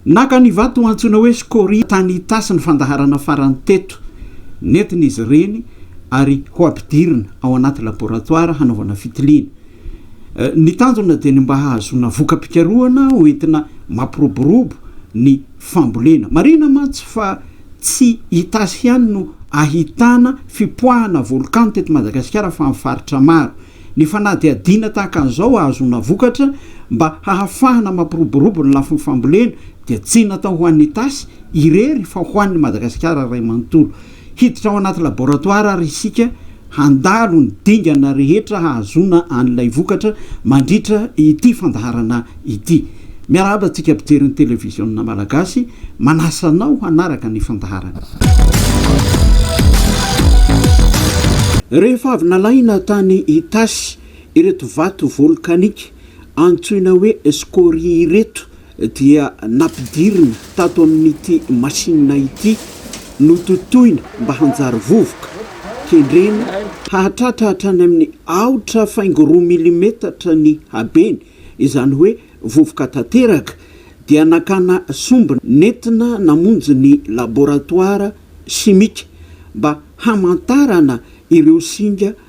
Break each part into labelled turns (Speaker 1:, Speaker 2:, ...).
Speaker 1: Naka ny vato antsoina hoe scoria tany Itasy ny fandaharana farany teto. Nentina izy ireny ary ho ampidirina ao anaty laboratoara hanaovana fitiliana. Ny tanjona dia ny mba hahazoana voka-pikarohana ho entina mampiroborobo ny fambolena. Marihina mantsy fa tsy Itasy ihany no ahitana fipoahana volkano teto Madagasikara fa amin'ny faritra maro. Ny fanadihadiana tahaka an'izao hahazoana vokatra mba hahafahana mampiroborobo ny lafiny fambolena dia tsy natao ho an'Itasy irery fa ho an'i Madagasikara iray manontolo. Hiditra ao anaty laboratoara ary isika handalo ny dingana rehetra hahazoana an'ilay vokatra mandritra ity fandaharana ity. Miarahaba antsika mpijery ny televiziona malagasy, manasa anao hanaraka ny fandaharana. Rehefa avy nalaina tany Itasy ireto vato volkanika antsoina hoe scorie ireto dia nampidirina tato amin'ity masinina ity, nototoina mba hanjary vovoka, kendrena hahatratra hatrany amin'ny aotra faingo roa milimetatra ny habeny, izany hoe vovoka tanteraka, dia nakana sombina nentina namonjy ny laboratoara simika mba hamantarana ireo singa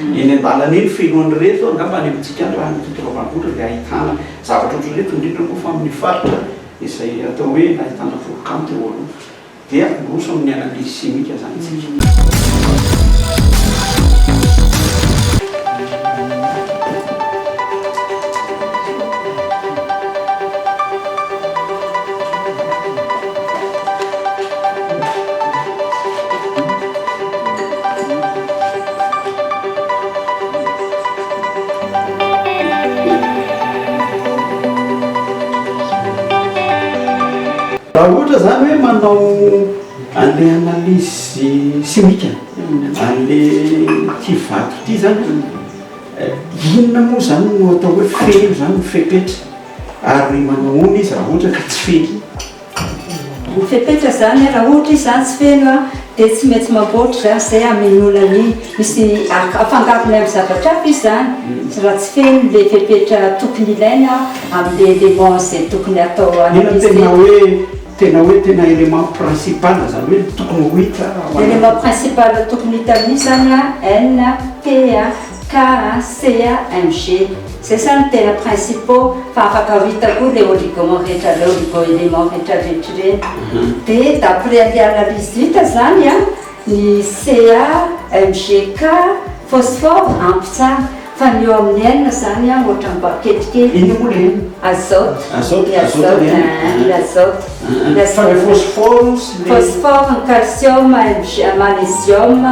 Speaker 1: Eny an-dalana eny feno an'ireto eo angamba any amintsika any raha any Tototra Ambanivohitra dia ahitana zavatra ohatr'ireto indrindra moa fa amin'ny faritra izay atao hoe nahitana volcan teo aloha dia miroso amin'ny analyse chimique izany isika. Raha ohatra izany hoe manao an'ilay analyse chimique an'ilay ity vato ity izany, inona moa izany no atao hoe feno izany, fepetra? Ary manahoana izy raha ohatra ka tsy feno? Ho
Speaker 2: fepetra izany raha ohatra izy izany tsy feno dia tsy maintsy mamboatra izany izay hamenoana ny misy afangarony amin'ny zavatra hafa izy izany raha tsy feno ilay fepetra tokony ilaina amin'ilay élément izay tokony hatao Inona no tena hoe
Speaker 1: tena hoe tena élément principal izany hoe tokony ho hita ao anaty. Élément principal
Speaker 2: tokony hita amin'izy izany an, NP an. Kara, Sea, MG, zay sa no tena principaux fa afaka ho hita koa le oligoments rehetra le oligo-elements rehetra rehetra ireny. De d'après anle analyse hita zany an, ny Ca, Mg, Ca, phosphore ampy tsara fa ny eo amin'ny N zany an ohatran'ny mba kelikely. Inona moa le N? Azote. Azote, ny
Speaker 1: azote
Speaker 2: ny N. Aa ny azote.
Speaker 1: Ny azote. Fa le phosphore sy le. Phosphore, ny
Speaker 2: calcium, Mg, magnesium,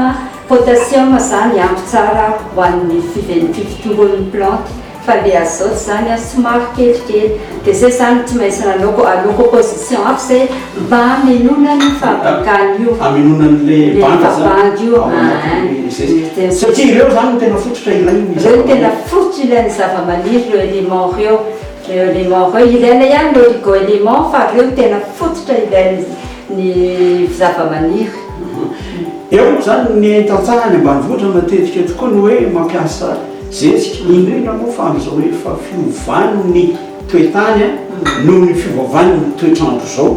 Speaker 2: Potassium zany ampy tsara ho an'ny fifitomboan'ny plante fa le azote zany somary kelikely de zay zany tsy maintsy nanaoko aloako position hafa zay mba hamenoana ny fabrikany io hamenoana an'le
Speaker 1: banda zany io ahh satria ireo
Speaker 2: zany no
Speaker 1: tena fototra ilain'ny ireo no tena fototra
Speaker 2: ilain'ny zavamaniry ireo element reo reo element reo ilaina ihany ny origo element fa reo tena fototra ilain'ny ny zavamaniry.
Speaker 1: Eo moa izany ny tantsaha any ambanivohitra matetika tokoa ny hoe mampiasa zezika, indrindra moa fa amin'izao efa fiovan'ny toe-tany noho ny fiovaovan'ny toetr'andro izao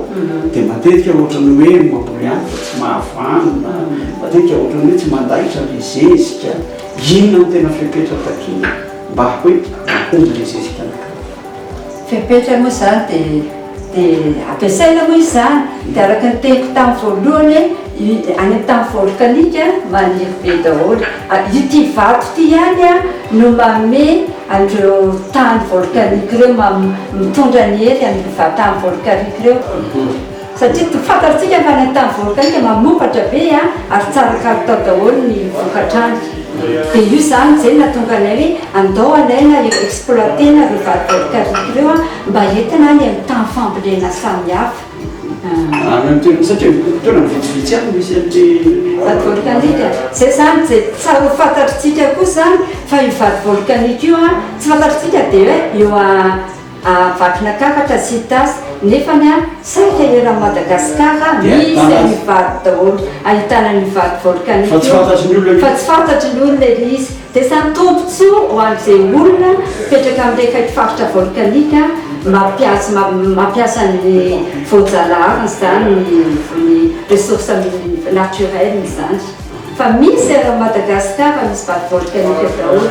Speaker 1: dia matetika ohatran'ny hoe mamboly ihany fa tsy mahavanona, matetika ohatran'ny hoe tsy mandaitra ilay zezika. Inona no tena fepetra takiana mba hoe mahomby ilay zezika anankiray? Fepetra moa izany
Speaker 2: dia dia ampiasaina moa izany, dia araka ny teniko tamin'ny voalohany hoe i any amin'ny tany volkanika maniry be daholo, ity vato ity ihany an no manome an'ireo tany volkanika ireo, mitondra ny hery an'ireo tany volkanika ireo. Satria toa fantatsika fa ny tany volkanika mamokatra be ary tsara kalitao daholo ny vokatrany. Dia io izany izay nahatonga anay hoe andao alaina ireo exploiter-na ireo vary volkanika ireo mba entina any amin'ny tany fambolena samihafa. Any amin'ny toerana, satria toerana
Speaker 1: vitsivitsy ihany no misy an'ilay. Vary volkanika.
Speaker 2: Izay izany izay tsy ho fantatr'tsika kosa fa io vary volkanika io tsy fantatr'tsika dia hoe eo. Vakina kakatra sy tasy nefany an! Saika eran'i Madagascar an! Misy an'io vato daholo ahitana an'io vato volcanique io fa tsy fantatry ny olona fa tsy fantatry ny olona ilay izy! Dia izany tombotsoa ho an'izay olona mipetraka amin'ilay akaiky faritra volcanique mampiasa mampiasa ny voajalaharany izany ny ressource naturel izany. Fa misy ary Madagascar misy
Speaker 1: vague volcanique daholo.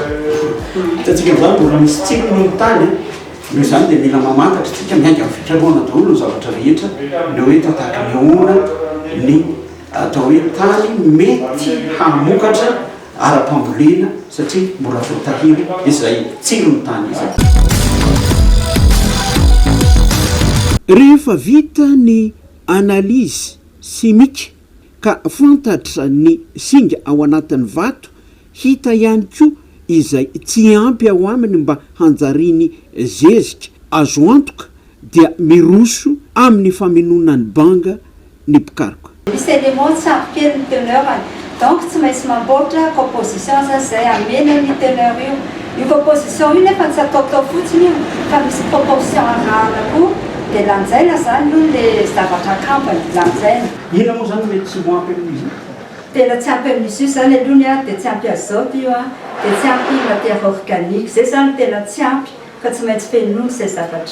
Speaker 1: Hitantsika izany mbola misy tsiko ny tany a. Noho izany dia mila mamantatra isika miainga avy hatrany ahoana daholo ny zavatra rehetra le hoe tataky ny ahoana ny atao hoe tany mety hamokatra ara-pambolena satria mbola voatahiry izay tsiron'ny tany izay.
Speaker 3: Rehefa vita ny analyse chimique. ka fantatra ny singa ao anatin'ny vato, hita ihany koa izay tsy ampy ao aminy mba hanjariany zezika, azo antoka dia miroso amin'ny famenoana ny banga ny mpikaroka. Misy élément tsy
Speaker 2: ampy kely ny teneur-ny, donc tsy maintsy mamboatra composition zazay hamena an'io teneur io, Io proposition io nefa tsy ataotao fotsiny io fa misy proportion arahana koa dia lanjaina zany aloha le zavatra akampany, lanjaina. Ina moa zany no mety
Speaker 1: tsy ho ampy amin'io zany? Tena tsy ampy
Speaker 2: amin'izy io zany aloha ny ahy dia tsy ampy azote io an, dia tsy ampy matière organique, zay zany no tena tsy ampy fa tsy maintsy fenoina zay zavatra zay.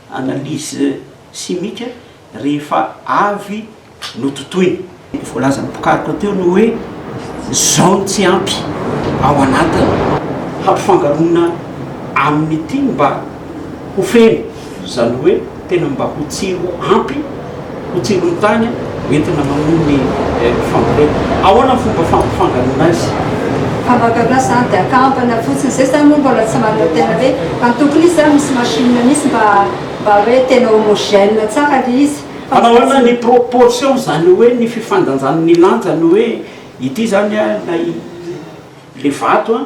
Speaker 1: analyse chimique rehefa avy nototoina. Ny voalazan'ny mpikaroka teo no hoe izao no tsy ampy ao anatiny hampifangaroana amin'ity mba ho feno, izany hoe tena mba ho tsiro ampy. Ho tsindrony tany ho entina mamono ny fambolena. Ahoana ny fomba fampifangaloana azy? Fangaloana
Speaker 2: zany dia akambana fotsiny. Zay zany moa mbola tsy manana tena hoe fa ny tokony izy zany misy machine misy mba mba hoe tena homogène tsara le izy. Manao ahoana ny
Speaker 1: proportion izany hoe ny fifandanjan'ny lanjany hoe ity zany an na le vato an.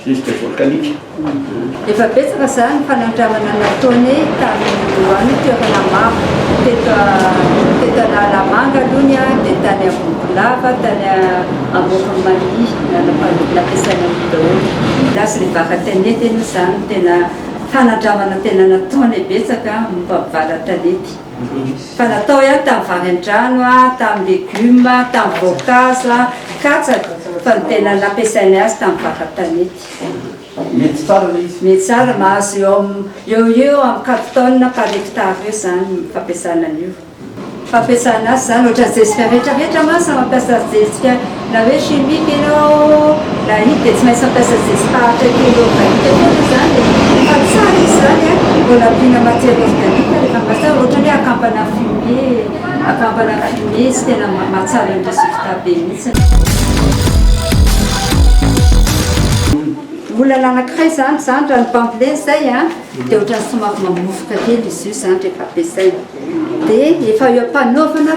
Speaker 1: Rivotra volkanika. Efa
Speaker 2: betsaka izany ny fanandramana nataony tamin'ny oany toerana maro. Teto teto Analamanga aloha ny ahy dia tany Ambohikolava, tany Ambovon'i Maria, nanam-pandroana nampiasaina an'io daholo. Ny azy ny vaca tanety aloha izany no tena fanandramana tena nataony betsaka momba ny valan-tanety. Fa natao ihany tamin'ny vary an-drano, tamin'ny legioma, tamin'ny voankazo, katsaka, fa ny tena nampiasainay azy tamin'ny vary tanety.
Speaker 1: Mety tsara ilay izy. Mety tsara, mahazo eo
Speaker 2: amin'ny, eo ho eo amin'ny quatre tonnes par hectare eo izany ny fampiasana an'io. Ny fampiasana azy izany, ohatran'ny zezika rehetra rehetra mantsy no mampiasa zezika. Na hoe chimique ianao na ino dia tsy maintsy mampiasa zezi-paharitra kely organique kely moa izany e! Fa tsara izy izany an, vao nampiana matière organique dia efa mahatsara, ohatra ny hoe akampana fumier, akampana fumier izy tena mahatsara ny résultat be mihitsy. Olana anankiray izany izany raha ny bambolia izay an, dia ohatran'ny somary mamovoka kely izy io izany rehefa ampiasaina. Dia efa eo am-panaovana.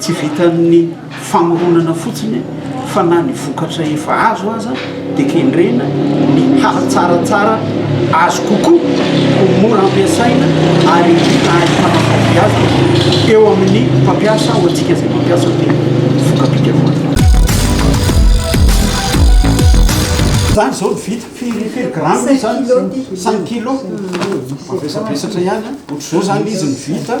Speaker 1: Tsy vitan'ny famoronana fotsiny fa na ny vokatra efa azo aza dia kendrena ny hahatsaratsara azy kokoa, ho mora ampiasaina ary ahitana fahombiazana eo amin'ny mpampiasa, ho antsika izay mampiasa ny voka-pikarohana. Izany izao ny vita, firy firy grammes izany? Cinq kilos, mavesabesatra ihany an! Ohatr'izao izany izy ny vita.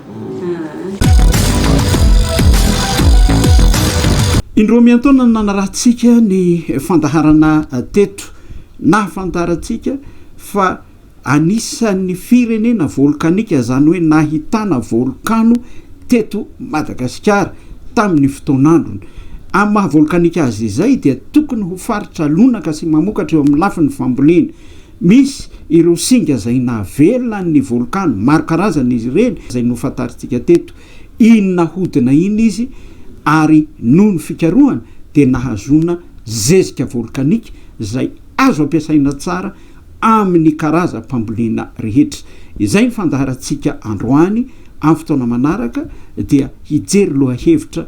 Speaker 1: Indroa miantaona no nanarahantsika ny fandaharana teto. Nahafantarantsika fa anisan'ny firenena volkanika, izany hoe nahitana volkano teto Madagasikara tamin'ny fotoan'androny. Amin'ny maha volkanika azy izay dia tokony ho faritra lonaka sy mamokatra eo amin'ny lafiny fambolena. Misy ireo singa izay navelona ny volkano, maro karazana izy ireny, izay nofantarintsika teto. Iny nahodina iny izy ary noho ny fikarohana dia nahazoana zezika volkanika izay azo ampiasaina tsara amin'ny karazam-pambolena rehetra. Izay ny fandaharantsika androany, amin'ny fotoana manaraka dia hijery lohahevitra